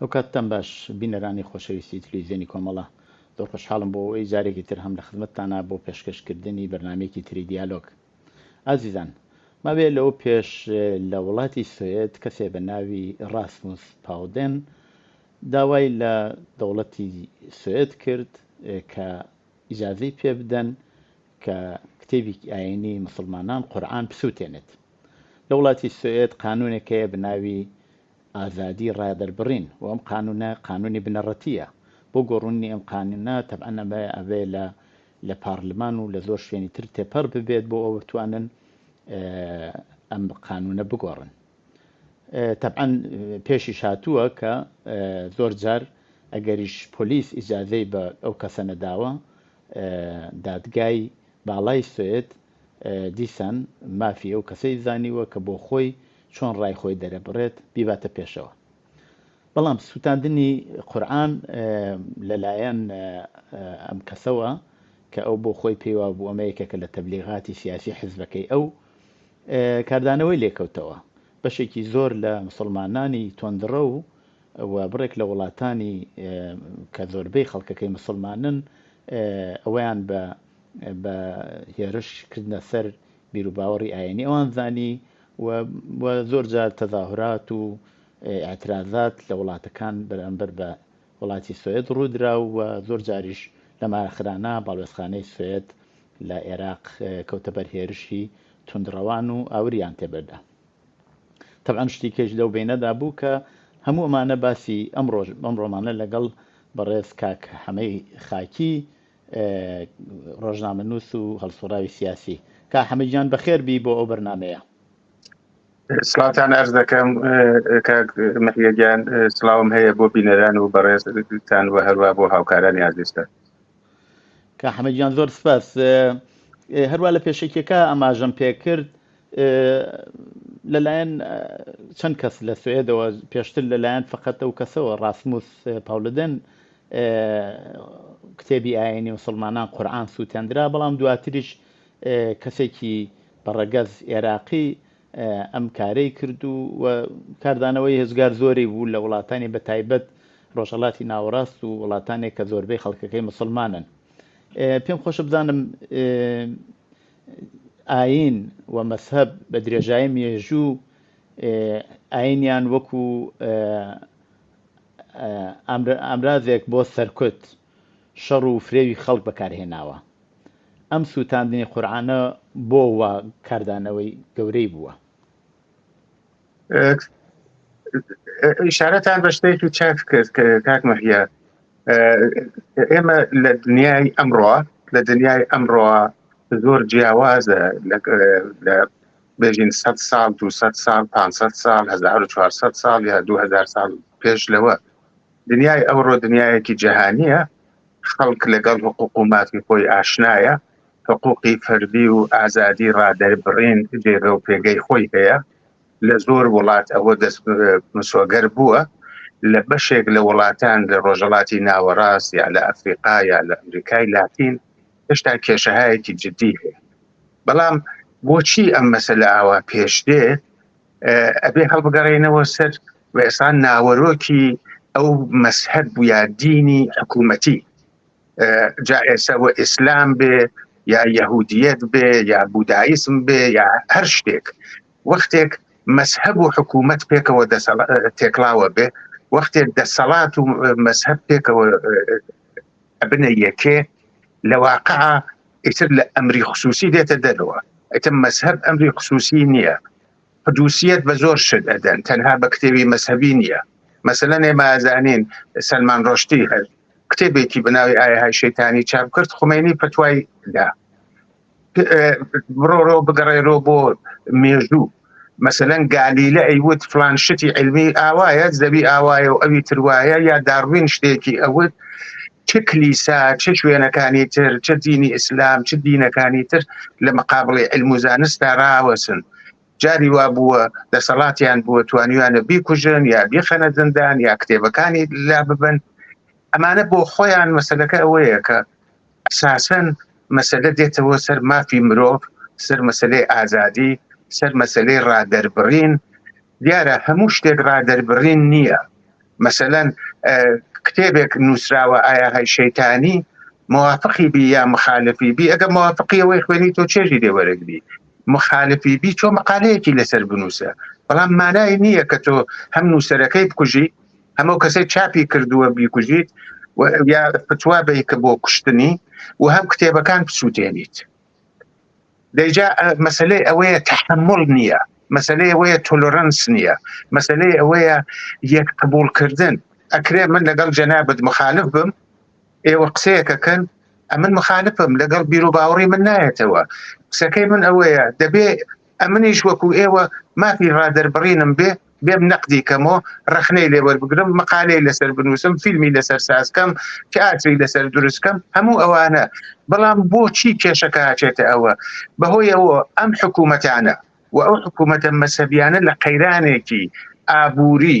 ئەو کاتتان باش بینەرانی خۆشەویستی تلویزیۆنی کۆمەڵە، زۆر خۆشحاڵم بۆ ئەوەی جارێکی تر هەم لە خزمەتتانا بۆ پێشکەش کردنی بەرنامەیەکی تری دیالۆگ. ئازیزان، ماوەیە لەوە پێش لە وڵاتی سوێد کەسێ بە ناوی ڕاسموس پاودێن داوای لە دەوڵەتی سوێد کرد کە ئیجازەی پێ بدەن کە کتێبیکی ئاینی مسلمانان قورعان بسووتێنێت. لە وڵاتی سوێد قانونێک هەیە بە ناوی ئازادی ڕادەربڕین و ئەم قانونە قانونی بنەڕەتیە بۆ گۆڕونی ئەم قانونە تەبعەن ئەمە ئەبێ لە لە پارلمان و لە زۆر شوێنی تر تێپەڕ ببێت بۆ ئەوە بتوانن ئەم قانونە بگۆڕن تەبعەن پێشیش هاتووە کە زۆر جار ئەگەریش پۆلیس ئیجازەی بە ئەو کەسە نەداوە دادگای باڵای سوێت دیسان مافی ئەو کەسەی زانیوە کە بۆ خۆی چۆن ڕای خۆی دەرەبڕێت بیباتە پێشەوە. بەڵام سووتاندنی قورئان لەلایەن ئەم کەسەوە کە ئەو بۆ خۆی پێی وابوو ئەمە یەکێکە لە تەبلیغاتی سیاسی حزبەکەی ئەو کاردانەوەی لێکەوتەوە. بەشێکی زۆر لە مسڵمانانی تۆندڕە و و بڕێک لە وڵاتانی کە زۆربەی خەڵکەکەی مسلمانن ئەویان بە بە هێرش کردنە سەر بیروباوەڕی ئاینی ئەوان زانی و زۆر جار تەزاهرات و ئاعترازات لە وڵاتەکان بەرامبەر بە وڵاتی سوێت ڕوودرا و زۆر جاریش لە مارەخرانە باڵوێزخانەی سوێت لە عێراق کەوتە بەر هێرشی تونندڕەوان و ئاوریان تێبەردا طبعا شتی کەش لەو بینەدا بوو کە هەموو ئەمانە باسی ئەم ڕۆژ بەم ڕۆمانە لەگەڵ بەڕێز کاک حەمەی خاکی ڕۆژنامە نووس و هەڵسوڕاوی سیاسی کا حەمەجان بەخێر بی بۆ ئەو بەرنمەیە سلاوتان ئەرز دەکەم مەحیەگیان سلااوم هەیە بۆ بینەران و بەڕێزتان و هەروە بۆ هاوکارانی ئازیستە کا حەمەجان زۆر سپاس هەروە لە پێشەکیەکە ئەماژەم پێکرد لەلایەن چەند کەس لە سوێدەوە پێشتر لەلایەن فقط ئەو کەسەوە ڕاسموس پاولدن کتێبی ئاینی وسلمانان قورآان سووتێندرا بەڵام دواتریش کەسێکی بەڕەگەز عێراقی ئەم کارەی کرد و کاردانەوەی هێزگار زۆری بوو لە وڵاتانی بە تایبەت ڕۆژەڵاتی ناوەڕاست و وڵاتانێک کە زۆربەی خەڵکەکەی مسلمانن پێم خۆشە بزانم ئایین و مەزهەب بە درێژایی مێژوو ئایینیان وەکو ئامرازێک بۆ سەرکوت، شەڕ و فرێوی خەڵک بەکارهێناوە. ئەم سووتاندنی قورئانە بۆ وا کاردانەوەی گەورەی بووە. ئشارەتان بە شتێکی چاک کرد کاک مەهیا ئێمە لە دنیای ئەمڕۆ لە دنیای ئەمڕۆ زۆر جیاوازە بێژین 100 سال 200 سال 500 سال 1400 سال یا 2000 سال پێش لەوە دنیای ئەوڕۆ دنیایەکی جیهانیە خەڵک لەگەڵ حقوق و مافی خۆی ئاشنایە حقوقی فەردی و ئازادی ڕادەربڕین جێگە و پێگەی خۆی هەیە لە زۆر وڵات ئەوە دەست مسۆگەر بووە لە بەشێک لە وڵاتان لە ڕۆژەڵاتی ناوەڕاست یا لە ئەفریقا یا لە ئەمریکای لاتین هێشتا کێشەهایەکی جددی هەیە بەڵام بۆچی ئەم مەسەلە ئاوا پێش دێ ئەبێ هەڵبگەڕێنەوە سەر و ئێسان ناوەرۆکی ئەو مەسهب یا دینی حکوومەتی جا ئێسە و ئیسلام بێ یا یهودیت بێ یا بودایسم بێ یا هەر شتێک وەختێک مەسهب و حکوومەت پێکەوە تێکلاوە بێ وەختێک دەسەڵات و مەسهب پێکەوە بنە یەکێ لە واقع ئیتر لە ئەمری خصوصی دێتە دەرەوە ئەتە مەسهب ئەمری خصوصی نییە قدوسیەت بە زۆر شت ئەدەن تەنها بە کتێبی مەزهەبی نییە مەسەلەن ئێمە ئازانین سەلمان ڕۆشتی هەر کتێبێکی بەناوی ئایهای شەیتانی چاپ کرد خومێنی پەتوای دا بڕۆڕۆ بگەڕێرۆ بۆ مێژوو مەسەەن گالیلە ئەیوت فلان شتی علمی ئاوایە زەوی ئاوایە و ئەوی تروایە یا داڕوین شتێکی ئەوت چ کلیسا چ شوێنەکانی تر چ دینی ئیسلام چ دینەکانی تر لە مەقابڵی علم و زانستا راوەسن جاری وا بووە دەسەڵاتیان بووە توانیوانە بیکوژن یا بیخەنە زندان یا کتێبەکانی لا ببن ئەمانە بۆ خۆیان مەسلەکە ئەوەیە کە ئەساسەن مەسلە دێتەوە سەر مافی مرۆڤ سەر مەسلەی ئازادی سەر مەسلەی ڕادەربڕین دیارە هەموو شتێک ڕادەربڕین نییە مەسەلەن کتێبێک نووسراوە ئایا هەی شەیتانی موافقی بی یا مخالفی بی ئەگە موافقی ئەوەی خوێنی تۆ چێژی لێ وەرەگری مخالفی بی چۆ مقالەیەکی لەسەر بنووسە بەڵام مانای نییە کە تۆ هەم نووسەرەکەی بکوژی هەمە کەسەی چاپی کردووە بیکوژیت یا فتوا بی کە بۆ کوشتنی و هەم کتێبەکان بسووتێنیت دەجا مەسلەی ئەوەیە تحمل نییە مەسلەی ئەوەیە تۆلۆرەنس نییە مەسلەی ئەوەیە یەک قبولکردن ئەکرێ من لەگەڵ جەنابەت مخالف بم ئێوە قسەیەکەکەن ئەمن مخالفم لەگەڵ بیرو باوەڕی من نایەتەوە قسەکەی من ئەوەیە دەبێ ئەمنیش وەکو ئێوە مافی ڕادەربڕینم بێ، بێم نەقدی کەم و ڕەخنەی لێ وەربگرم، مقالەی لەسەر بنووسم، فیلمی لەسەر ساز کەم، تیاتری لەسەر دروست کەم، هەموو ئەوانە، بەڵام بۆچی کێشەکە ئەچێتە ئەوە؟ بەهۆی ئەوە ئەم حکوومەتانە و ئەو حکوومەتە مەزهەبییانە لە قەیرانێکی ئابووری،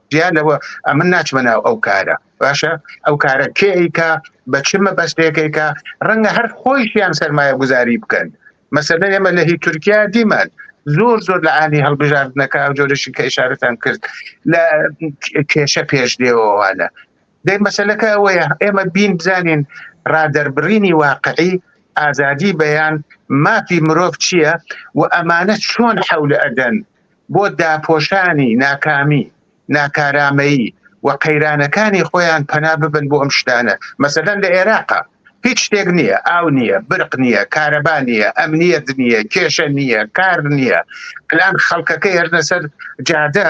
جیا لەوە ئەمن ناچمە ناو ئەو کارە باشە ئەو کارە کێ ئەیکا بە چ مەبەستێکێکە ڕەنگە هەر خۆیشیان سەرمایە گوزاری بکەن مەسەلە ئێمە لە هی تورکیا دیمان زۆر زۆر لە ئانی هەڵبژاردنەکە ئەو جۆرەشی کە ئشارەتان کرد لە کێشە پێش دێوەوانە دەی مەسلەکە ئەوەیە ئێمە بین بزانین ڕادەربڕینی واقعی ئازادی بەیان مافی مرۆڤ چییە و ئەمانە چۆن حول ئەدەن بۆ داپۆشانی ناکامی، ناکارامەیی و قەیرانەکانی خۆیان پەنا ببەن بۆ ئەم شتانە، مەسەلەن لە ئێراقا هیچ شتێک نییە، ئاو نییە، برق نییە، کارەبا نییە، ئەمنییەت نییە، کێشە نییە، کار نییە، ئەلان خەڵکەکە هێشتنە سەر جادە،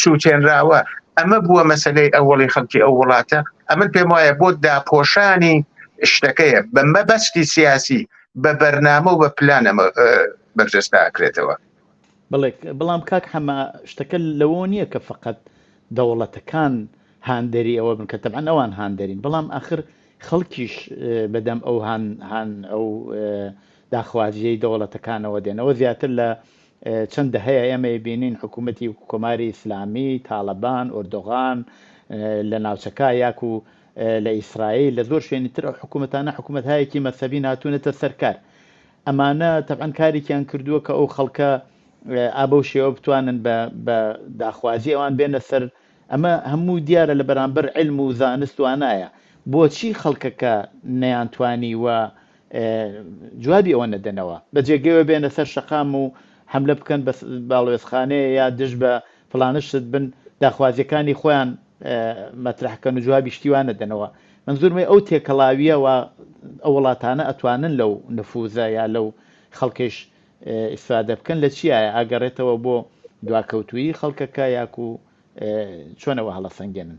سوتێنراوە ئەمە بووە مەسەلەی ئەوەڵی خەڵکی ئەو وڵاتە ئەمن پێم وایە بۆ داپۆشانی شتەکەیە بە مەبەستی سیاسی بە بەرنامە و بە پلان ئەمە بەرجەستا ئەکرێتەوە بڵێ بەڵام کاک حەمە شتەکە لەوە نییە کە فقط دەوڵەتەکان هاندەری ئەوە بن کە تەبان ئەوان هاندەرین بەڵام ئاخر خەڵکیش بەدەم ئەو هاان ئەو داخوازیەی دەوڵەتەکانەوە دێنەوە زیاتر لە چەند دەهەیە ئێمە ئەیبینین حکوومەتی کۆماری ئیسلامی، تاڵەبان، ئۆردۆغان لە ناوچەکە یاکوو لە ئیسرائیل لە زۆر شوێنی تر ئەو حکوومەتانە حکوومەتهایەکی مەسەبین هاتوونەتە سەر کار. ئەمانە تەبعەن کارێکیان کردووە کە ئەو خەڵکە ئا بەو شێوە بتوانن بە داخوازی ئەوان بێنە سەر ئەمە هەموو دیارە لە بەرامبەر علم و زانست وانایە بۆچی خەڵکەکە نەیانتوانی وە جوابی ئەوە نەدەنەوە بە جێگەوە بێنە سەر شەقام و حملە بکەن بە باڵوێزخانەیە یا دژ بە فلانش شت بن داخوازیەکانی خۆیان مەترحکەن و جوابی شتیوان نەدەنەوە من زورمەی ئەو تێکەڵاویە و ئەو وڵاتانە ئەتوانن لەو نفوزە یا لەو خەڵکەش ئیسفادە بکەن لە چیایە ئاگەڕێتەوە بۆ دواکەوتویی خەڵکەکە یاکو چۆنەوە هەڵە سەنگێنن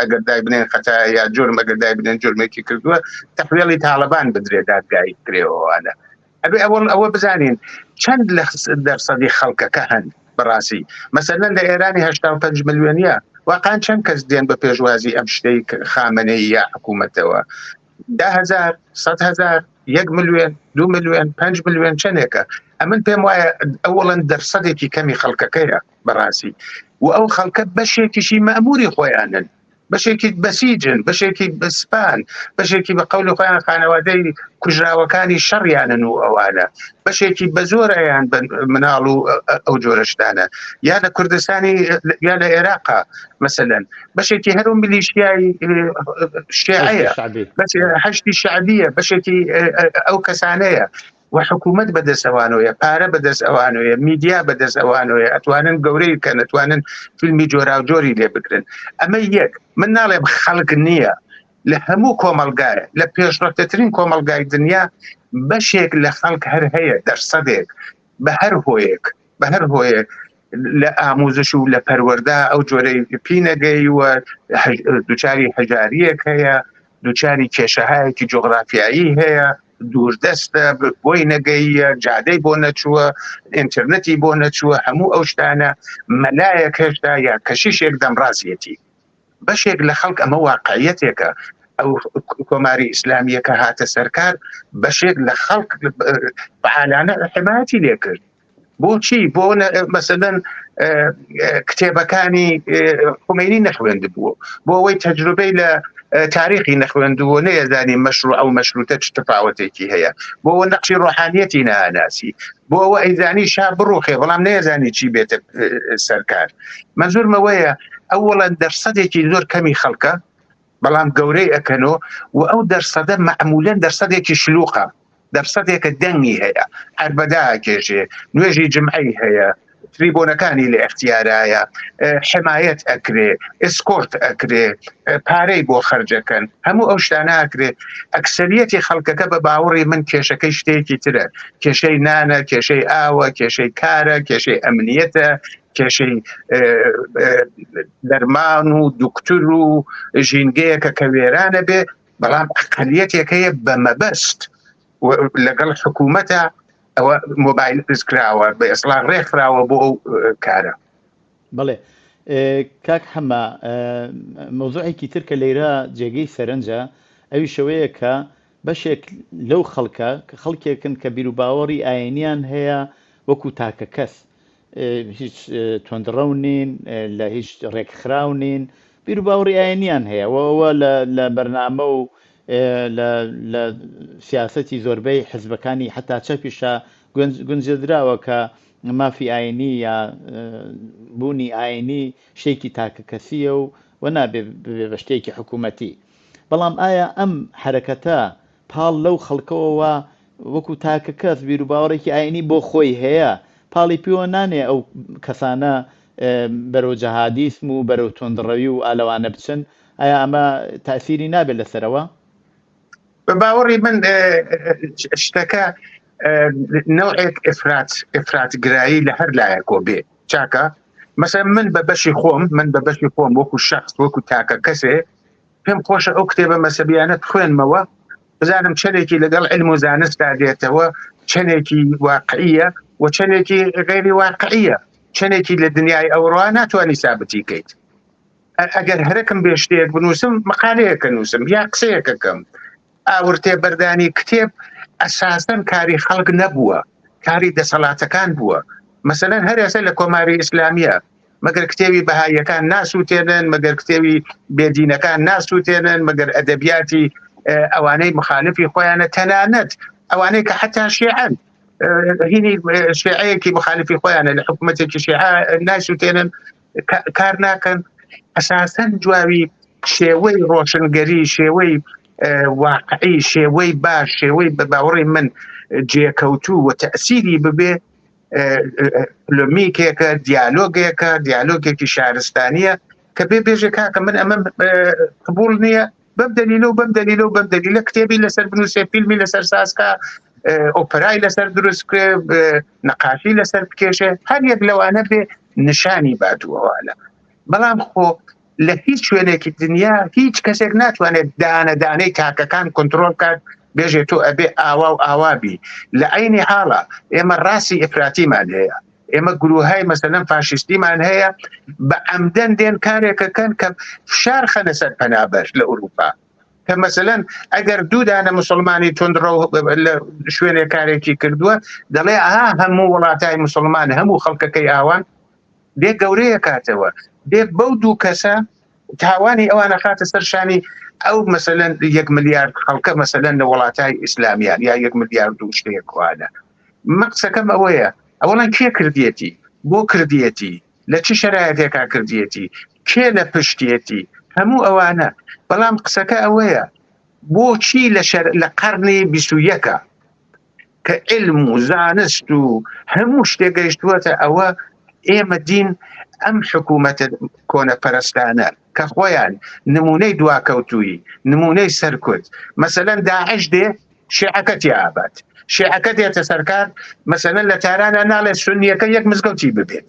ئەگەر دای بنێن خەتا یا جرم ئەگەر دای بنێن جرمێکی کردووە تەحوێڵی تاالبان بدرێ دادگایی کرێەوەوانە ئەبێ ئەوەڵ ئەوە بزانین چەند لە دەرسەدی خەڵکەکە هەن بەڕاستی مەسەرەن لە ئێرانی هشتا پنج ملیۆنە واقعان چەند کەس دێن بە پێشوازی ئەم شتەی خامنەی یا حکوومەتەوە دههزار سەهزار یەک ملیێن دو ملیێن پنج ملیێن چنێکە ئەمن پێم وایە ئەوڵەن دەرسەدێکی کەمی خەڵکەکەیە بەڕاستی و ئەو خەڵکە بەشێکیشی مەموری خۆیانن بەشێکی بەسیجن بەشێکی بەسپان بەشێکی بە قەول خۆیان خانەوادەی کوژراوەکانی شەڕیانن و ئەوانە بەشێکی بە زۆرەیان مناڵ و ئەو جۆرەشتانە یا لە کوردستانی یا لە عێراقا مثلەن بەشێکی هەرو ملیشیای شێعەیە بەشێکی شعبیە بەشێکی ئەو کەسانەیە وە حکومەت بەدەست ئەوانۆیە پارە بەدەست ئەوانۆیە میدیا بەدەست ئەوانۆیە ئەتوانن گەورەی کە نەتوانن فیلمی جۆراوجۆری لێ بگرن ئەمە یەک من ناڵێم خەڵک نییە لە هەموو کۆمەلگایە لە پێشڕەتەترین کۆمەلگای دنیا بەشێک لە خەڵک هەر هەیە دەرسەدێک بە هەر هۆیەک بە هەر هۆیەک لە ئاموزش و لە پەروەەردا ئەو جۆرەی پینەگەی و دوچاری هەژاریەک هەیە دوچاری کێشەهایەکی جۆغرافیایی هەیە دووردەستە بۆی نەگەیە جادەی بۆ نەچووە ئینتررنەتی بۆ نەچووە هەموو ئەو شتانە مەلایەک هێشتا یا کەشیشێک دەمڕاستەتی بەشێک لە خەڵک ئەمە واقعەتێکە ئەو کۆماری ئیسلامیەکە هاتە سەرکار بەشێک لە خەڵک بەعاانە حمایەتی لێکرد بۆچی بۆ مەسەدەن کتێبەکانی خومێنی نەخوێند بووە بۆ ئەوەی تەجروبەی لە تاریخی نەخوێندووە نێزانی مەشروع ئەو مەشروتە چ تفاوتێکی هەیە بۆ نەقشی ڕۆحانیەتی ناناسی بۆ ئەوە ئەیزانی شا بڕوخێ بەڵام نێزانی چی بێتە سەرکار منزورمەوەیە ئەو وڵەن دەرسەدێکی زۆر کەمی خەڵکە بەڵام گەورەی ئەکەنەوە و ئەو دەرسەدە معمولەن دەرسەدێکی شلوقە دەرسەتێکە دەنگی هەیە هەر بەداکێشێ نوێژی جمعی هەیە تریبۆنەکانی لە اختیارایە حمایەت ئەکرێ ئسکۆرت ئەکرێ پارەی بۆ خرجەکەن هەموو ئەو شتاناکرێ ئەکسریەتی خەڵکەکە بە باوەڕی من کێشەکەی شتێکی ترە کێشەی نانە کێشەی ئاوە کێشەی کارە کێشەی ئەمنیەتە کێشەی دەرمان و دکتور و ژینگەیەکە کە وێرانە بێ بەڵام ئەقلیەتێک هەیە بە مەبەست لەگەڵ حکوومەتە ئەوە مۆبایل پرس کراوە بە ئێسڵان ڕێکخراوە بۆ ئەو کارە بڵێ کاک حەمە مۆزوعێکی تر کە لێرە جێگەی سەرنجە ئەوی شەوەیە کە بەشێک لەو خەڵکە کە خەڵکێکن کە بیرروباوەڕی ئاینیان هەیە وەکو تاکە کەس هیچ تۆندڕەو نین لە هیچ ڕێکخراو نین بیر و باوەڕی ئاینیان هەیە ئەوە لە بەرنامە و لە سیاستی زۆربەی حزبەکانی حتا چەپیشە گونجێدراوە کە مافی ئاینی یا بوونی ئاینی شتێکی تاکە کەسیە و و نابێ بە شتێکی حکوومەتی بەڵام ئایا ئەم حرەکەتە پاڵ لەو خەڵکەوە وا وەکو تاکە کەس بیروباوەڕێکی ئاینی بۆ خۆی هەیە پاڵی پێوە نانێ ئەو کەسانە بەرەو جەهادیسم و بەرەو توندڕەوی و ئالەوانە بچن ئایا ئەمە تاسیری نابێت لەسەرەوە بە باوەڕی من شتەکە نەوەک ئفرات ئفرات گرایی لە هەر لایەکۆ بێ چاکە مەسە من بە بەشی خۆم من بە بەشی خۆم وەکو شخص وەکو تاکە کەسێ پێم خۆشە ئەو کتێبە مەسەبیانە بخوێنمەوە بزانم چەندێکی لەگەڵ علم و زانستدا دێتەوە چەندێکی واقعیە و چەندێکی غێری واقعیە چەندێکی لە دنیای ئەوڕا ناتوانانی سابتی کەیت ئەگەر هەرەکەم بێ شتێک بنووسم مقالەیەکە نووسم یا قسەیەکەکەم ئاورتێ بەردانی کتێب ئەساسەن کاری خەڵک نەبووە کاری دەسەڵاتەکان بووە مەسەن هەر ئێستا لە کۆماری ئیسلامیە مەگەر کتێوی بەهاییەکان ناسووتێنن مەگەر کتێوی بێدینەکان ناسووتێنن مەگەر ئەدەبیاتی ئەوانەی مخالفی خۆیانە تەنانەت ئەوانەی کە حتا شێعن هینی شێعەیەکی مخالفی خۆیانە لە حکوومەتێکی شێع ناسووتێنن کار ناکەن ئەساسەن جوابی شێوەی ڕۆشنگەری شێوەی واقعی شێوەی باش شێوەی بە باوەڕی من جێکەوتوو و تەسیری ببێ پلمیکێکە دیالۆگێکە دیالۆگێکی شارستانیە کە بێ بێژێ کاکە من ئەمە قبول نییە بەم دەلیلە و بەم دەلیلە و بەم دەلیلە کتێبی لەسەر بنووسێ فیلمی لەسەر ساسکە ئۆپرای لەسەر دروست نەقاشی لەسەر بکێشێ هەر یەک لەوانە بێ نیشانی بادووەوالە بەڵام خۆ لە هیچ شوێنێکی دنیا هیچ کەسێک ناتوانێت دانە دانەی تاکەکان کۆنتترۆل کات بێژێت تۆ ئەبێ ئاوا و ئاوابی لە عینی حاڵە ئێمە ڕاستی ئفراتیمان هەیە ئێمە گروههای مەسەلەن فاشیستیمان هەیە بە ئەمدەن دێن کارێکەکەن کە فشار خەنە سەر پەنابەر لە ئوروپا کە مەسەن ئەگەر دوودانە مسلمانی تندڕە لە شوێنێ کارێکی کردووە دەڵێ ئاها هەموو وڵاتای مسلمان هەموو خەڵکەکەی ئاوان بێ گەورەیە کاتەوە بێ بەو دوو کەسە تاوانی ئەوانە خاتە سەر شانی ئەو مەسەلەن یەک ملیارد خەڵکە مەسەلەن لە وڵاتای ئیسلامیان یا یەک ملیارد و شتێکوانە مەقسەکەم ئەوەیە ئەوڵەن کێ کردیەتی بۆ کردیەتی لە چ شەرایەتێکا کردیەتی کێ لە پشتێتی هەموو ئەوانە بەڵام قسەکە ئەوەیە بۆچی لە شەر لە قەرنی بیسویەکە کە علم و زانست و هەموو شتێ گەیشتووەتە ئەوە ئێمە دین ئەم حکوومەتە کۆنە پەرستانە کە خۆیان نمونەی دواکەوتووی نمونەی سەرکوت مەسەەن داعش دێ شێعەکەتی ئابات شێعەکە دێتە سەرکار مەسەەن لە تارانە ناڵێ سنیەکە یەک مزگەوتی ببێت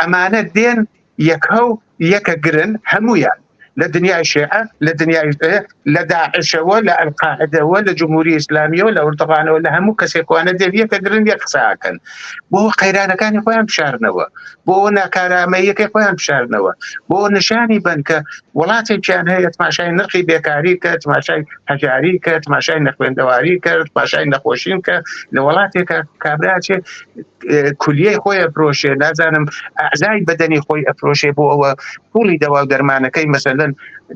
ئەمانە دێن یەکە و یەکە گرن هەمویان لە دنیای شێعە لە دنیای لە داعشەوە لە ئەلقاعدەوە لە جمهوری ئسلامیەوە لە وردڕانەوە لە هەموو کەسێکوانە دێن یەکە گرن یە قساکەن بۆ قەیرانەکانی خۆیان بشارنەوە بۆ ناکارامەیەکە خۆیان بشارنەوە بۆ نیشانی بنکە وڵاتێکیان هەیە تماشای نرخی بێکاری کە تماشای هەجاری کە تماشای نەخوێندەواری کرد پاشای نەخۆشین کە لە وڵاتێکە کابراچێت کولیەی خۆی ئەفرۆشێ نازانم ئەعزای بەدەنی خۆی ئەفرۆشێ بۆ ئەوە پوڵی دەوا و دەرمانەکەی مەسەلەن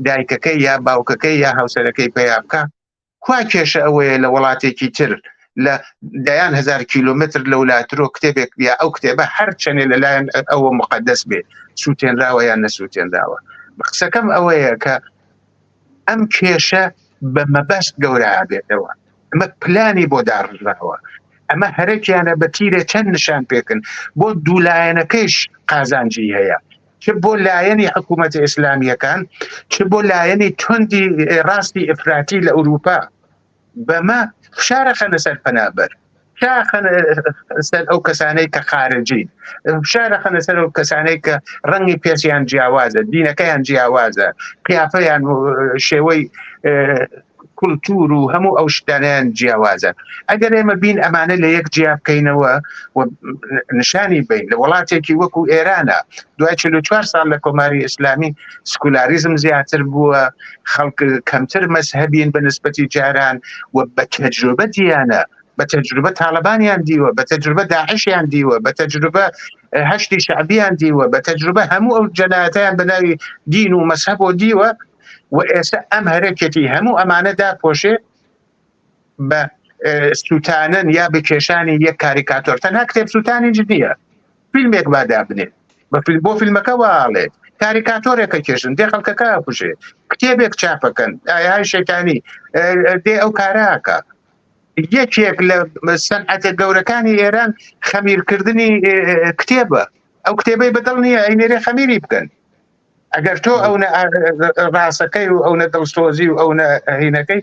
دایکەکەی یا باوکەکەی یا هاوسەرەکەی پیا بکە کوا کێشە ئەوەیە لە وڵاتێکی تر لە دەیان هزار کیلومتر لە ولاترۆ کتێبێک یا ئەو کتێبە هەر چەنێ لەلایەن ئەوە مقدەس بێت سووتێنراوە یان نەسووتێنراوە قسەکەم ئەوەیە کە ئەم کێشە بە مەبەست گەورابێتەوە ئەمە پلانی بۆ داڕژراوە ئەمە هەرەکیانە بە تیرە چەند نیشان پێکن بۆ دوولایەنەکەش قازانجی هەیە چ بۆ لایەنی حکوومەت ئیسلامیەکان چ بۆ لایەنی تندی ڕاستی ئفراتی لە ئوروپا بەمە فشارە خەنە سەر پەنابەر سەر ئەو کەسانەی کە خارجی فشارە خەنە سەر ئەو کەسانەی کە ڕەنگی پێسیان جیاوازە دینەکەیان جیاوازە قیافیان شێوەی کولتور و هەموو ئەو شتانیان جیاوازە ئەگەر ئێمە بین ئەمانە لە یەک جیا بکەینەوە و نشانی بین لە وڵاتێکی وەکو ئێرانە دوای 44 سال لە کۆماری ئیسلامی سکولاریزم زیاتر بووە خەڵک کەمتر مەسهبین بە نسبەتی جاران و بە تەجروبە دییانە بە تەجروبە تاالبانیان دیوە بە تەجروبە داعشیان دیوە بە تەجروبە هەشتی شعبیان دیوە بە تەجروبە هەموو ئەو جەنایەتیان بەناوی دین و مەسهب و دیوە و ئێستا ئەم هەرەکەتی هەموو ئەمانەدا پۆشێ بە سووتانن یا بکێشانی یەک کاریکاتۆر تەنها کتێب سووتانی جدیە فیلمێک با دابنێت بە فیلم بۆ فیلمەکە واڵێت کاریکاتۆرێکە کێشن دێ خەڵکەکە کوژێ کتێبێک چاپەکەن ئاهای شەکانی دێ ئەو کاراکە یەکێک لە سەنعەتە گەورەکانی ئێران خەمیرکردنی کتێبە ئەو کتێبەی بەدڵ نییە ئەینێرێ خەمیری بکەن ئەگەر تۆ ئەو ڕاستەکەی و ئەو نە دڵسۆزی و ئەو هینەکەی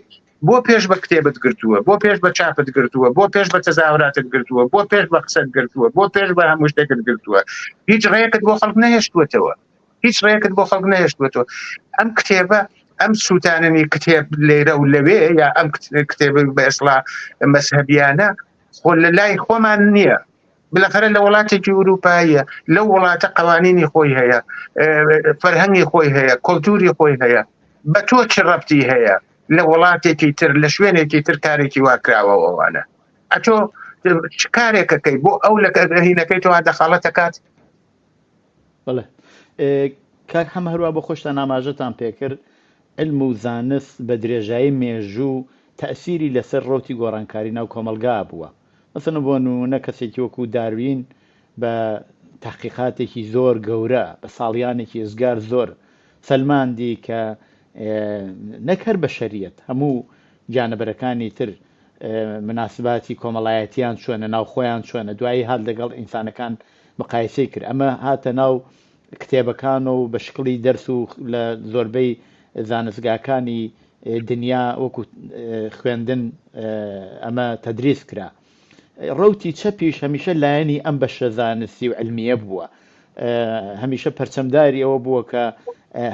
بۆ پێش بە کتێبت گرتووە بۆ پێش بە چاپت گرتووە بۆ پێش بە تەزاوراتت گرتووە بۆ پێش بە قسەت گرتووە بۆ پێش بە هەموو شتێکت گرتووە هیچ ڕێکت بۆ خەڵک نەهێشتوەتەوە هیچ ڕێکت بۆ خەڵک نەهێشتوەتەوە ئەم کتێبە ئەم سووتاننی کتێب لێرە و لەوێ یا ئەم کتێب بە ئێسڵا مەسهبیانە خۆ لە لای خۆمان نییە بلەفەرە لە وڵاتێکی ئورووپاییە لەو وڵاتە قوانینی خۆی هەیە فەرهەنگی خۆی هەیە کۆلتوری خۆی هەیە بە تۆ چ ڕەتی هەیە لە وڵاتێکی تر لە شوێنێکی تر کارێکی واکراوە ئەوانە ئەتۆ کارێکەکەی بۆ ئەو لە هینەکەی تۆ دەخاڵەت دەکات بڵێ کاک هەم هەروە بۆ خۆشتان ناماژەتان پێکرد علم و زانست بە درێژایی مێژوو تەسیری لەسەر ڕوتی گۆڕانکاری ناو کۆمەلگا بووە مەسەلەن بۆ نموونە کەسێکی وەکوو داروین بە تەحقیقاتێکی زۆر گەورە بە ساڵیانێکی ئێجگار زۆر سەلماندی کە نەک هەر بەشەریەت هەموو گیانەبەرەکانی تر مناسباتی کۆمەڵایەتیان چۆنە ناوخۆیان چۆنە دوایی هات لەگەڵ ئینسانەکان مقایسەی کرد ئەمە هاتە ناو کتێبەکان و بە شکڵی دەرس و لە زۆربەی زانستگاکانی دنیا وەکو خوێندن ئەمە تەدریس کرا ڕوتی چەپیش هەمیشە لایەنی ئەم بەشە زانستی و علمیە بووە هەمیشە پەرچەمداری ئەوە بووە کە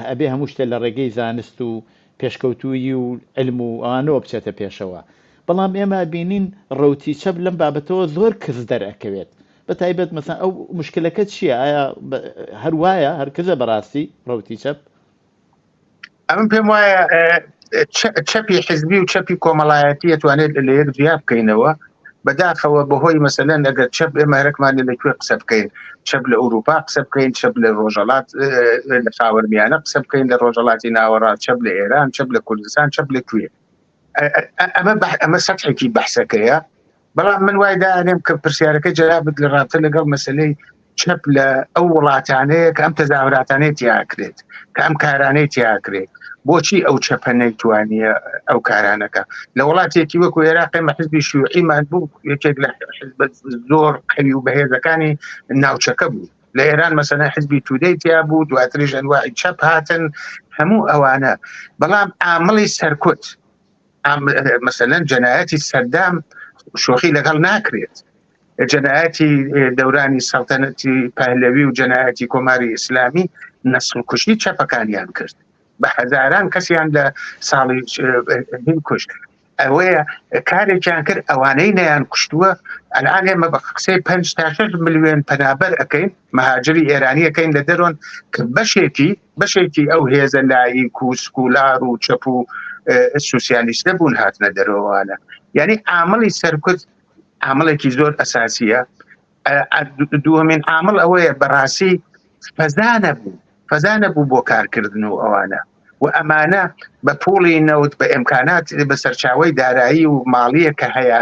ئەبێ هەموو شتە لە ڕێگەی زانست و پێشکەوتووی و علم و ئەوانەوە بچێتە پێشەوە بەڵام ئێمە بینین ڕوتی چەپ لەم بابەتەوە زۆر کز دەرەکەوێت بە تایبەت مەسا ئەو مشکلەکە چییە ئایا هەر وایە هەرکزە بەڕاستی ڕوتی چەپ ئەمن پێم وایە چەپی حزبی و چەپی کۆمەڵایەتی توانێت لە یەک جیا بکەینەوە بەداخەوە بەهۆی مەسەلەن ئەگەر چەپ ئێمە هەرکمان لەکوێ قسە بکەین چەپ لە ئەوروپا قسە بکەین چەپ لە ڕۆژەڵات لە خاوەرمیانە قسە بکەین لە ڕۆژەڵاتی ناوەڕا چەپ لە ئێران چەپ لە کوردستان چەپ لە کوێ ئەمە ئەمە سەحێکی بەحسەکەیە بەڵام من وای دانێم کە پرسیارەکە جەرابت لە ڕاتە لەگەڵ مەسلەی چەپ لە ئەو وڵاتانەیە کە ئەم تەزاوراتانەی تیاکرێت کە ئەم کارانەی تیاکرێت بۆچی ئەو چەپە نەیتوانیە ئەو کارانەکە لە وڵاتێکی وەکو عێراقی مەحزبی شوعیمان بوو یەکێک لە زۆر قەوی و بەهێزەکانی ناوچەکە بوو لە ئێران مەسەنە حزبی تودەی تیا بوو دواتریش ئەنواعی چەپ هاتن هەموو ئەوانە بەڵام ئامڵی سەرکوت مەسەلەن جەنایەتی سەردام شۆخی لەگەڵ ناکرێت جەنایەتی دەورانی سەڵتەنەتی پەهلەوی و جەنایەتی کۆماری ئیسلامی نەسل کوشتی چەپەکانیان کرد بە هەزاران کەسیان لە ساڵی کوشت ئەوەیە کارێکیان کرد ئەوانەی نیان کوشتووە ئەلان ئێمە بە قسەی پ تا ملیێن پەنابەر ئەەکەین مهاجری ئێرانیەکەین لە دەرۆن کە بەشێتی بەشێکی ئەو هێزە لاییک و سکولار و چەپ و سوسیالیستە بوون هاتنە دەرەوەوانە یعنی ئامەڵی سەرکوت ئامەڵێکی زۆر ئەساسیە دووەمین ئامل ئەوەیە بەڕاستی فەزانە بوو فەزانە بوو بۆ کارکردن و ئەوانە و ئەمانە بە پۆڵی نەوت بە ئەمکانات بە سەرچاوی دارایی و ماڵیە کە هەیەە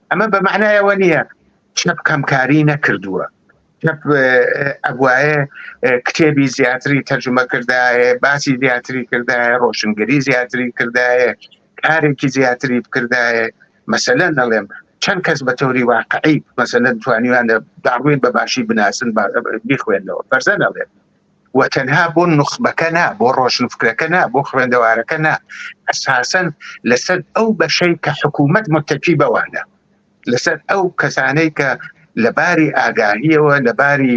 ئەمە بە معنایەوە نییە چەپ کەمکاری نەکردووە ئەگوایە کتێبی زیاتری تەرجمە کردایە باسی زیاتری کردایە ڕۆشنگری زیاتری کردایە کارێکی زیاتری بکردایە مەسەلە نەڵێم چەند کەس بە تۆری واقعی مەسەلەن توانیوان داڕوین بە باشی بناسن بیخوێندەوە بەرزە نەڵێت و تەنها بۆ نوخبەکە نا بۆ ڕۆشنفکرەکە نا بۆ خوێندەوارەکە نا ئەساسەن لەسەر ئەو بەشەی کە حکوومەت متەکی بەوانە لەسەر ئەو کەسانەی کە لە باری ئاگاهیەوە لە باری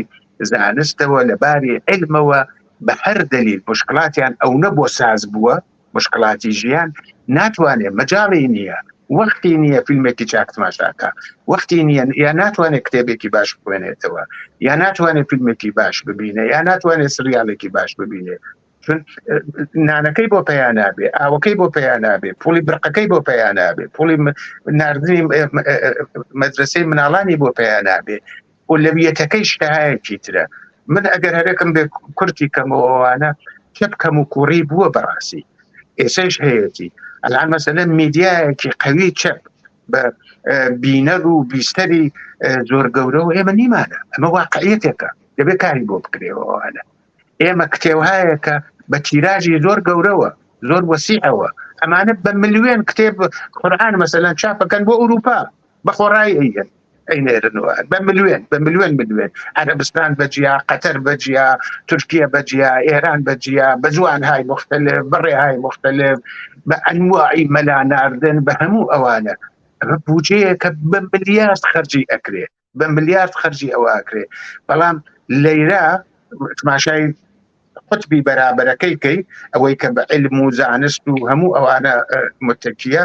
زانستەوە لە باری علمەوە بە هەر دلیل مشکلاتیان ئەو نە بۆ ساز بووە مشکلاتی ژیان ناتوانێت مەجاڵی نییە وەختی نییە فیلمێکی چاک تماشاکە وەختی نییە یا ناتوانێت کتێبێکی باش بخوێنێتەوە یا ناتوانێت فیلمێکی باش ببینێ یا ناتوانێت سریالێکی باش ببینێ چون نانەکەی بۆ پیا نابێ ئاوەکەی بۆ پیا نابێ پولی برقەکەی بۆ پیا نابێ پولی نردنی مەدرسەی مناڵانی بۆ پیا نابێ ئولەویەتەکەی شتهایەکی ترە من ئەگەر هەرێکم بێ کورتی کەمەوەوانە کپ کەم و کوڕی بووە بەڕاستی ئێسش هەیەتی ئەلان مەسەلە میدیایەکی قوی چەپ بە بینەر و بیستەری زۆر گەورە و ئێمە نیمانە ئەمە واقعەتێکە دەبێت کاری بۆ بکرێەوەوانە ئێمە کتێوهایەکە بە تیراژی زۆر گەورەوە زۆر وەسیعەوە ئەمانە بە ملیێن کتێب قورآان مەسەلەن چاپەکەن بۆ ئەوروپا بە خۆڕای ئەیهێن ئەینێرن و بە ملوێن بە ملوێن ملوێن عەرەبستان بەجیا قەتەر بەجیا تورکیە بەجیا ئێران بەجیا بە جوان های مختلف بەڕێ های مختلف بە ئەنواعی مەلا ناردن بە هەموو ئەوانە ئەمە بودجەیە کە بە ملیارد خەرجی ئەکرێ بە ملیارد خەرجی ئەوە ئەکرێ بەڵام لەیرا تماشای قوتبی بەرابەرەکەی کەی ئەوەی کە بە علم و زانست و هەموو ئەوانە متەکیە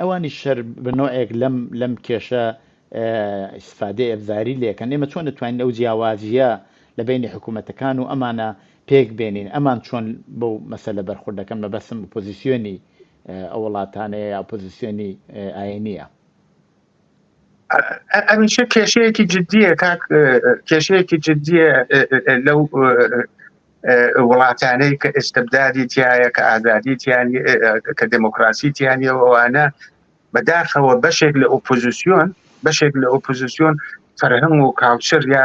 ئەوانیش هەر بە نۆعێک لەم لەم کێشە ئیسفادەی ئەبزاری لێکەن ئێمە چۆن دەتوانین ئەو جیاوازیە لە بینی حکوومەتەکان و ئەمانە پێک بێنین ئەمان چۆن بەو مەسەلە بەرخوردەکەم بە بەسم پۆزیسیۆنی ئەو وڵاتانەیە یا پۆزیسیۆنی ئاینیە ئەمیشە کێشەیەکی جددیە کاک کێشەیەکی جددیە لەو وڵاتانەی کە ئێستبدادی تایە کە ئازادی تیانی کە دموکراسی تیانەوەوانە بەداخەوە بەشێک لە ئۆپۆزیسیۆن بەشێک لە ئۆپۆزیسیۆن فەرهەنگ و کاوچەر یا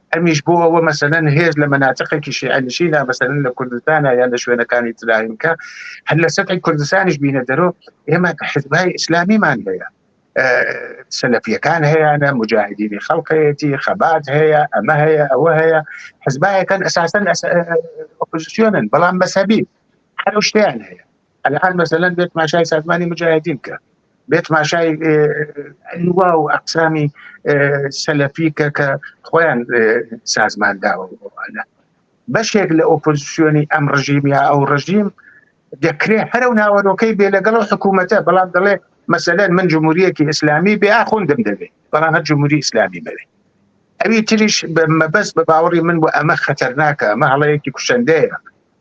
ئەمیش بۆ ئەوە مەسەلەن هێز لە مەناتقێکی شیعەنشینا مەسەلەن لە کوردستانە یا لە شوێنەکانی تراینکە هەر لە سەتی کوردستانیش بینە دەرۆ ئێمە حزبای ئیسلامیمان هەیە سەلفیەکان هەیەە مجاهدینی خەڵقەتی خەبات هەیە ئەمە هەیە ئەوە هەیە حزبایەکەن ئەساسەن ئۆپۆزیسیۆنن بەڵام مەسەبی هەر شتیان هەیە ئەلان مەسەلەن بێ تماشای سازمانی مجاهدین کە بێ تماشای لوا و ئەقسامی سەلەفی کە کە خۆیان سازمان داوە بەشێک لە ئۆپۆزیسیۆنی ئەم ڕژیم یا ئەو ڕژیم دەکرێ هەرو ناوەرۆکەی بێ لەگەڵ حکوومەتە بەڵام دەڵێ مەسەلەن من جمهوریەکی ئیسلامی بێ ئاخوندم دەبێت بەڵام هەر جمهوری ئیسلامی بەوێت ئەوی تریش بە مەبەست بە باوەڕی من بۆ ئەمە خەتەرناکە مە هەڵەیەکی کوشندەیە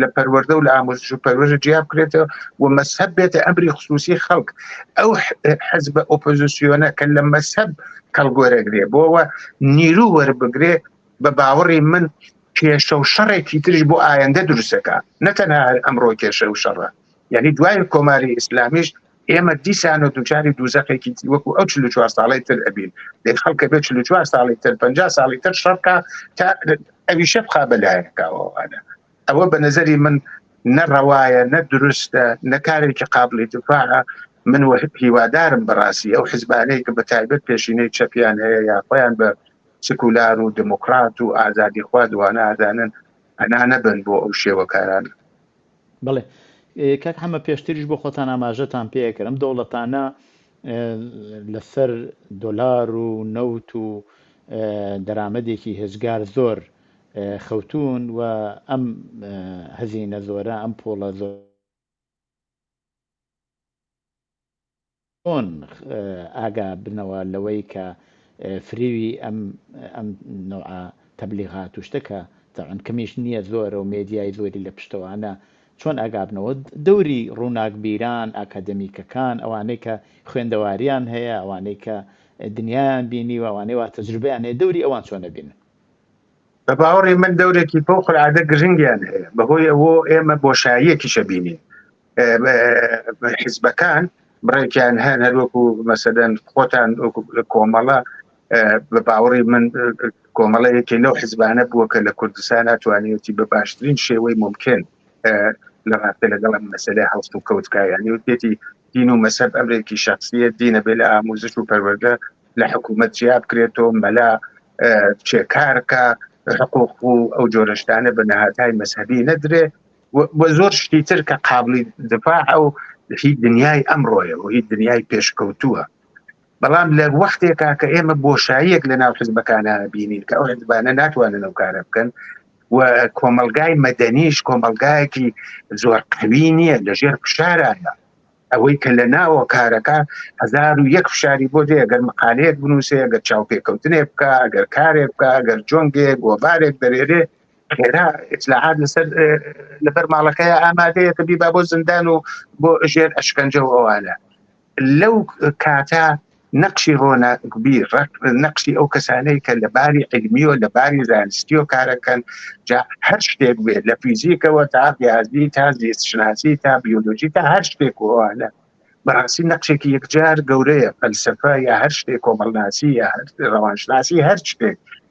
لە پەروەردە و لە ئامۆزش و پەروەژە جیا بکرێتەوە و مەسهب بێتە ئەمری خصوصی خەڵک ئەو حەزب ئۆپۆزیسیۆنە کە لە مەسهب کەڵگۆرەگرێ بۆەوە نیرو وەربگرێ بە باوەڕی من کێشە و شەڕێکی ترش بۆ ئایندە دروستەکە نەتەنها هەر ئەمڕۆ کێشە و شەڕە یعنی دوای کۆماری ئیسلامیش ئێمە دیسانەوە دووچاری دووزەخێکی تری وەکو ئەو چل و چوار ساڵەی تر ئەبین دەی خەڵکە بێ چل و چوار ساڵی تر پەنجا ساڵی تر شەڕکە تا ئەویشە بخا بەلایەکەوەوانە ئەوە بە نەزەری من نەڕەوایە نە دروستە نە کارێکی قابلی دفاعە من وە هیوادارم بەڕاستی ئەو حزبانەیە کە بە تایبەت پێشینەی چەپیان هەیە یا خۆیان بە سکولار و دموکرات و ئازادی خوا دوانە ئازانن ئەنا نەبن بۆ ئەو شێوەکاران بەڵێ کاک حەمە پێشتریش بۆ خۆتان ئاماژەتان پێکرد ئەم دەوڵەتانە لەسەر دۆلار و نەوت و دەرامەتێکی هێزگار زۆر خەوتون و ئەم هەزینە زۆرە ئەم پۆڵە زۆر چۆن ئاگا بنەوە لەوەی کە فریوی ئەم ئەم نەوعە تەبلیغات و شتە کە تەعن کەمیش نییە زۆرە و مێدیای زۆری لە پشتەوانە چۆن ئاگابنەوە دەوری ڕووناکبیران ئاکادمیکەکان ئەوانەی کە خوێندەواریان هەیە ئەوانەی کە دنیایان بینیوە ئەوانەی وا تەجروبەیان هەیە دەوری ئەوان چۆنە بینن بە باوەڕی من دەورێکی فەوقلعادە گرنگیان هەیە بەهۆی ئەوە ئێمە بۆشاییەکیشە بینین حزبەکان بڕێکیان هەن هەروەکو مەسەدەن خۆتان کۆمەڵە بە باوەڕی من کۆمەڵە یەکێ لەو حزبانە بووە کە لە کوردستان ناتوانێتی بە باشترین شێوەی ممکن لە ڕاستە لەگەڵ ئەم مەسلێ هەڵست و کەوتکایانی وتێتی دین و مەسەب ئەمرێکی شخصیت دینە بێ لە ئاموزش و پەروەردە لە حکوومەت جیا بکرێتەوە مەلا چێکارکە حقوق و ئەو جۆرەشتانە بە نەهاتای مەسهبی نەدرێ و زۆر شتی تر کە قابلی دفاع ئەو هی دنیای ئەمڕۆیە و هی دنیای پێشکەوتووە بەڵام لە وەختێکا کە ئێمە بۆشاییەک لە ناو حزبەکانە بینین کە ئەو حزبانە ناتوانن ئەو کارە بکەن و کۆمەلگای مەدەنیش کۆمەلگایەکی زۆر قوی نییە لە ژێر فشارانە ئەوەی کە لە ناوە کارەکە هزار و یەک فشاری بۆ دێ گەر مقالەیەک بنووسێ گەر چاوپێکەوتنێ بکە گەر کارێک بکە گەر جۆنگێ گۆبارێک دەرێرێ خێرا ئیسلاحات لەسەر لەبەر ماڵەکەی ئامادەیە کە بیبا بۆ زندان و بۆ ژێر ئەشکەنجە و ئەوانە لەو کاتە نەقشی ڕۆناگوبی ڕق نەقشی ئەو کەسانەی کە لە باری علمی و لە باری زانستی و کارەکەن جا هەر شتێک بێت لە فیزیکەوە تا ریاضی تا زیستشناسی تا بیولۆژی تا هەر شتێک وانە بەڕاستی نەقشێکی یەکجار گەورەیە فەلسفە یا هەر شتێک کۆمەڵناسی یا ڕەوانشناسی هەر شتێک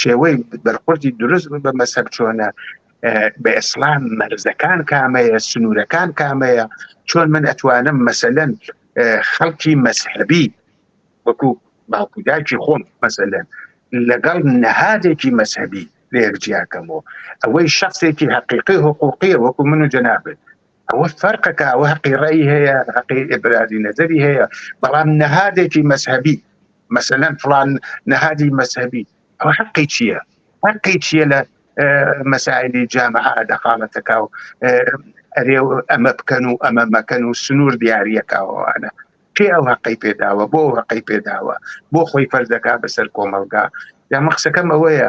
شێوەی بەرخوردی دروست بە مەسەب چۆنە بە ئسلام مەرزەکان کامەیە سنوورەکان کامەیە چۆن من ئەتوانم مەسەلەن خەڵکی مەسحبی وەکو باوکوداکی خۆم مەسەلەن لەگەڵ نەهادێکی مەسەبی لێک جیاکەمەوە ئەوەی شخصێکی حقیقی حقوقیە وەکو من و جەنابێت ئەوە فەرقەکە ئەوە هەقی ڕێی هەیە هەقی ئبرادی نەزەری هەیە بەڵام نەهادێکی مەذهبی مەسەەن فلان نەهادی مەذهبی ئەو حقی چییە حقی چییە لە مەساعدی جامع دەخاڵەتەکە و ئەرێ ئەمە بکەن و ئەمە مەکەن و سنوور دیارریەکەوانە پێ ئەو هەقی پێداوە بۆ هەقی پێداوە بۆ خۆی فەردەکە بەسەر کۆمەلگا دەمە قسەکەم ئەوەیە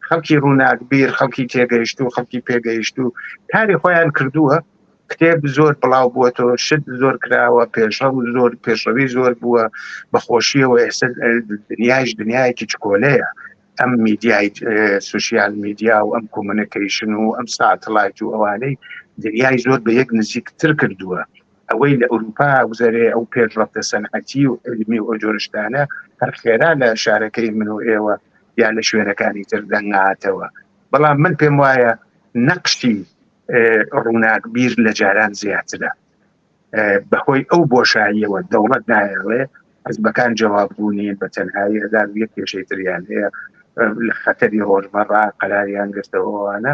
خەڵکی ڕووناکبیر خەڵکی تێگەیشتوو خەڵکی پێگەیشتوو کاری خۆیان کردووە کتێب زۆر بڵاو بووە تۆ شت زۆر کراوە پێشڕ و زۆر پێشڕەوی زۆر بووە بەخۆشیەوە ئێستا دنیاش دنیایەکی چکۆلەیە ئەم میدیای سوسیال میدیا و ئەم کۆمونیکیشن و ئەم ساتلایت و ئەوانەی دنیای زۆر بە یەک نزیکتر کردووە ئەوەی لە ئەوروپا گوزەرێ ئەو پێشڕەفتە سەنعەتی و علمی و جۆرە شتانە هەر خێرا لە شارەکەی من و ئێوە یا لە شوێنەکانی تر دەنگاتەوە بەڵام من پێم وایە نەقشتی ڕووناک بیر لە جاران زیاترە بەهۆی ئەو بۆشاییەوە دەوڵەت نایڵێ حزبەکان جواببوونی بە تەنهایی ئەدار یەک کێشەی تریان هەیە لە خەتەری ڕۆژمەڕا قەراریان گرتەوەوانە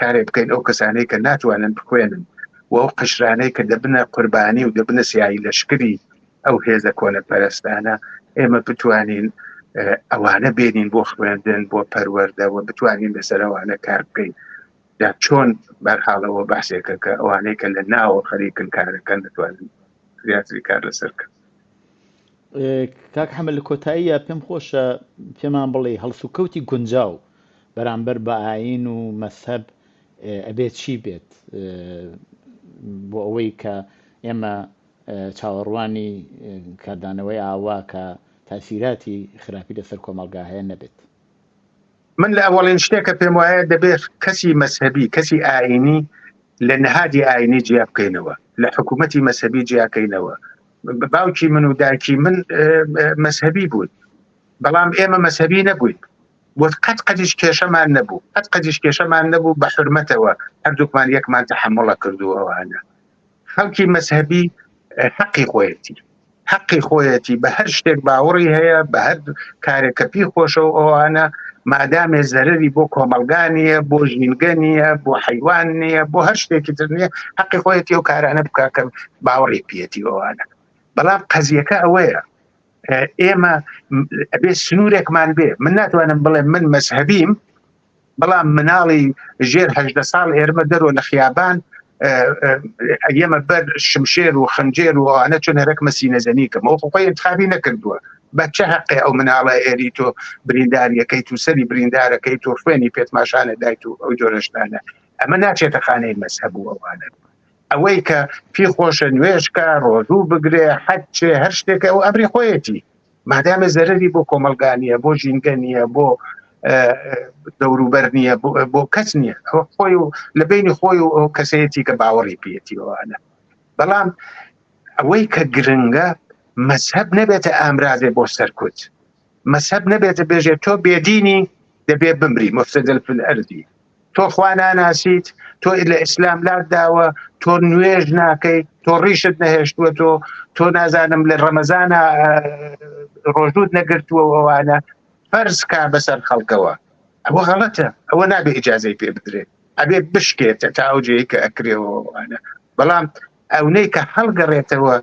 کارێک بکەین ئەو کەسانەی کە ناتوانن بخوێنن و ئەو قشرانەی کە دەبنە قوربانی و دەبنە سیایی لەشکری ئەو هێزە کۆنە پەرستانە ئێمە بتوانین ئەوانە بێنین بۆ خوێندن بۆ پەروەردەوە بتوانین لەسەرەوانە کار بکەین دا چۆن بەرحاڵەوە باسێکە کە ئەوانەی کە لە ناوە خەریکن کارەکەن دەتوانن زیاتری کار لەسەر کرد کاک حەمە لە کۆتاییە پێم خۆشە پێمان بڵێ هەڵسوکەوتی گونجاو بەرامبەر بە ئاین و مەسەب ئەبێت چی بێت بۆ ئەوەی کە ئێمە چاوەڕوانی کاردانەوەی ئاوا کە تاسیراتی خراپی لەسەر کۆمەلگا هەیە نەبێت من لە ئەوەڵین شتێکە پێم وایە دەبێت کەسی مەسەبی کەسی ئاینی لە نەهادی ئاینی جیا بکەینەوە لە حکوومەتی مەسەبی جیاکەینەوە باوکی من و دایکی من مەسهەبی بوون بەڵام ئێمە مەسهەبی نەبووین وت قەت قەدیش کێشەمان نەبوو قەت قەدیش کێشەمان نەبوو بە حرمەتەوە هەردووکمان یەکمان تەحمڵە کردووەوانە خەڵکی مەسهەبی حەقی خۆیەتی حەقی خۆیەتی بە هەر شتێک باوەڕی هەیە بە هەر کارێکە پی خۆشە و ئەوانە مادامێ زەرری بۆ کۆمەلگا نیە بۆ ژینگە نیە بۆ حیوان نیە بۆ هەر شتێکی تر نیە حەقی خۆیەتی و کارانە بککەم باوەڕی پێتی ئەوانە بەڵام قەزیەکە ئەوەیە ئێمە ئەبێ سنوورێکمان بێ من ناتوانم بڵێ من مەذهبیم بەڵام مناڵی ژێرهدە ساڵ ئێرمە دەرۆ لە خیابان ئەمە بەر شمشێر و خنجێر و ئەوانە چون هەرەک مەسی نەزەنیکەم ئەو خۆی انتخابی نەکردووە بە چه حقی ئەو مناڵە ئێری تۆ برینداریەکەی تو سەری بریندارەکەی تۆ خوێنی پێتماشانە دایت و ئەو جۆرەشتانە ئەمە ناچێتە خانەی مەسهبوو ئەوانە ئەوەی کە پی خۆشە نوێژکە ڕۆژوو بگرێ حەچێ هەر شتێکە ئەو ئەمری خۆیەتی مادامە زەرری بۆ کۆمەلگانیە بۆ ژینگە نیە بۆ دەوروبەر نیە بۆ کەس نیە خۆی و لە بینی خۆی و ئەو کەسەتی کە باوەڕی پێتیوانە بەڵام ئەوەی کە گرنگە مەسهب نەبێتە ئامرازێ بۆ سەرکوت مەزهەب نەبێتە بێژێ تۆ بێدینی دەبێ بمری مفسدل فی الارضی تۆ خوا ناناسیت تۆ لە ئیسلام لات داوە تۆ نوێژ ناکەی تۆ ڕیشت نەهێشتووە تۆ تۆ نازانم لە ڕەمەزانە ڕۆژوت نەگرتووە ئەوانە فەرز کا بەسەر خەڵکەوە ئەوە غەڵەتە ئەوە نابێ ئجاازەی پێ بدرێت ئەبێ بشکێتە تا ئەو جێی کە ئەکرێەوەوانە بەڵام ئەونەی کە هەڵگەڕێتەوە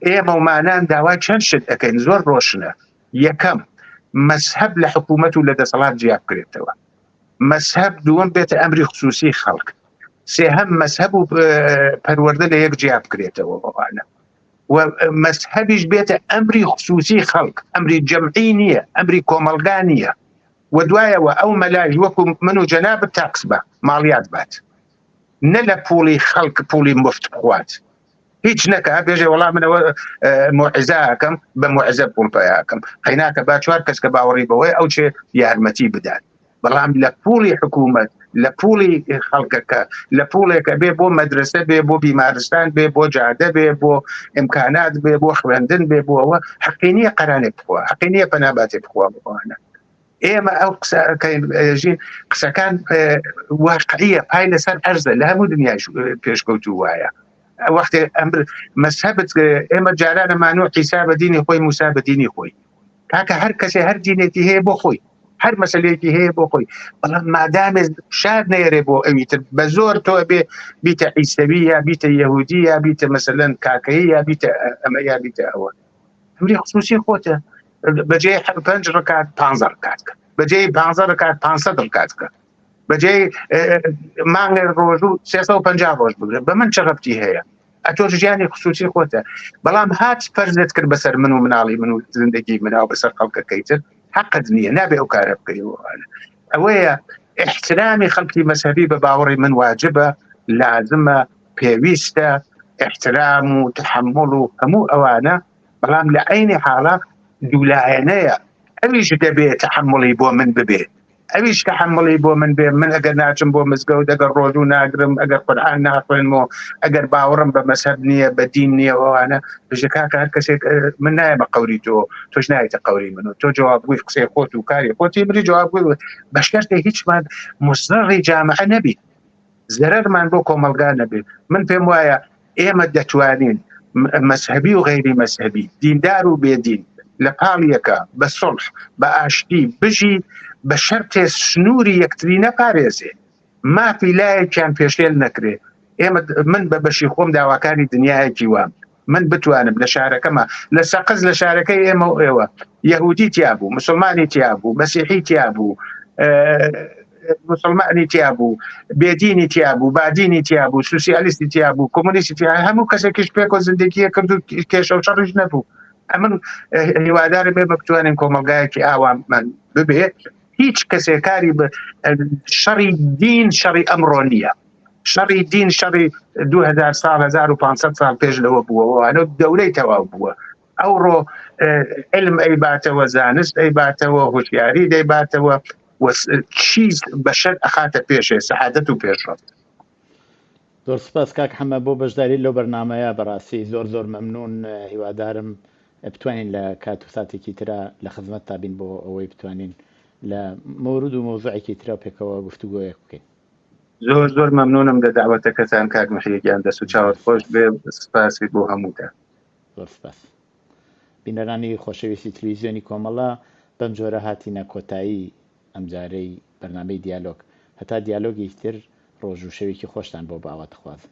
ئێمە ومانان داوای چەند شت دەکەین زۆر ڕۆشنە یەکەم مەسهب لە حکوومەت و لە دەسەڵات جیا بکرێتەوە مەسهب دووەم بێتە ئەمری خصوصی خەڵک سێ هەم مەسهب و پەروەەردە لە یەک جیا بکرێتەوە ئەوانە و مەسهبیش بێتە ئەمری خصوصی خەڵک ئەمری جەمعی نییە ئەمری کۆمەلگا نییە و دوایەوە ئەو مەلاژ وەکو من و جەناب تاکس بە ماڵیات بات نە لە پوڵی خەڵک پوڵی مفت بخوات هیچ نەکە بێژێ وەڵام منەوە مۆعزاکەم بە مۆعزە پوڵ پیاکەم قەیناکە با چوار کەس کە باوەڕی بەوەی ئەو چێ یارمەتی بدات بەڵام لە پوڵی حکوومەت لە پوڵی خەڵکەکە لە پوڵێکە بێ بۆ مەدرسە بێ بۆ بیمارستان بێ بۆ جادە بێ بۆ ئیمکانات بێ بۆ خوێندن بێ بۆەوە حقینیە قەرانێ بخوا حقینیە پەناباتێ بخوا بخواانە ئێمە ئەو قسەژین قسەکان واقعیە پای لەسەر ئەرزە لە هەموو دنیا پێشکەوتو وایە وەختێ ئەمر مەسەبت ئێمە جارانە مانۆ قیسا بە دینی خۆی موسا بە دینی خۆی کاکە هەر کەسێ هەر دینێتی هەیە بۆ خۆی هەر مەسلەیەکی هەیە بۆ خۆی بەڵام مادامێ شار نێرێ بۆ ئەوی تر بە زۆر تۆ بێ بیتە ئیسەوی یا بیتە یهودی یا بیتە مەسەلەن کاکەی یا بیتە ئەمە یا بیتە ئەوە ئەمری خصوصی خۆتە بەجێ پنج ڕکات پ ڕکات کە بەجێ پ ڕکات پ ڕکات کە بەجێ مانگە ڕۆژ و 350 ڕۆژ بگرن بە من چ ڕەتی هەیە ئەتۆ ژیانی خصوصی خۆتە بەڵام هاچ پەرزت کرد بەسەر من و مناڵی من و زندگی مناو بەسەر خەڵکەکەیتر حقت نییە نابێ ئەو کارە بکەیەوە ئەوەیە احترامی خەڵکی مەسەبی بە باوەڕی من واجبە لازمە پێویستە ئیحترام و تەحەموڵ و هەموو ئەوانە، بەڵام لە عەینی حاڵا دوولایەنەیە، ئەویش دەبێ تەحەموڵی بۆ من ببێ، ئەویش تەحەموڵی بۆ من بێ، من ئەگەر ناچم بۆ مزگەوت، ئەگەر ڕۆژوو ناگرم، ئەگەر قورئان ناخوێنم و ئەگەر باوەڕم بە مەزهەب نییە، بە دین نییە و ئەوانە، بژە کاکە هەر کەسێک، من نایەمە قەوری تۆ، تۆش نایەیتە قەوری من و تۆ جەوابگۆی قسەی خۆت و کاری خۆتی، منیش جەوابگۆی، بە شەرتێ هیچمان موزڕڕی جامعە نەبین. زەرەرمان بۆ کۆمەڵگا نەبێ من پێم وایە ئێمە دەتوانین مەسهبی و غیری مەسهبی دیندار و بێدین لە پاڵیەکە بە سڵح بە ئاشتی بژی بە شەرتێ سنووری یەکتری نەپارێزێ مافی لایەکیان پێشێل نەکرێ ئێمە من بە بەشی خۆم داواکاری دنیایەکی وام من بتوانم لە شارەکەمە لە سەقز لە شارەکەی ئێمە و ئێوە یهودی تیا بوو مسلمانی تیا بوو بەسیحی تیا بوو مسلمانی تیا بوو بێدینی تیا بوو بادینی تیا بوو سوسیالیستی تیا بوو کۆمونیستی تیا هەموو کەسێکیش پێک و زندگیە کرد و کێشە و شەڕش نەبوو ئەمن هیوادارە بێ بەتوانین کۆمەلگایەکی ئاوام من ببێ هیچ کەسێکاری بە شەڕی دین شەڕی ئەمڕۆ نییە شەڕی دین شەڕی 2000 سال 1500 سال پێش لەوە بووەوە ئەلۆ دەورەی تەواو بووە ئەوڕۆ علم ئەی باتەوە زانست ئەی باتەوە هوشیاری دەی باتەوە چیز بەشەر ئەخاتە پێشێ سەعادەت و پێشڕفت زۆر سپاس کاک حەمە بۆ بەشداری لەو بەرنمەیە بەڕاستی زۆر زۆر مەمنون هیوادارم بتوانین لە کات و ساتێکی تررا لە خزمەت تابین بۆ ئەوەی بتوانین لە مورود و مۆزوعێکی تررا پێکەوە گفتوگۆیەک بکەین زۆر زۆر مەمنونم لە داوەتەکەتان کاک محیگیان دەست و چاوت خۆش بێ سپاسی بۆ هەمووتە زۆر سپاس بینەرانی خۆشەویستی تلویزیۆنی کۆمەڵە بەم جۆرە هاتینە کۆتایی ئەمجارەی بەرنمەی دیالۆگ هەتا دیالۆگی تر ڕۆژ و شەوێکی خۆشتان بۆ باوە دەخوازم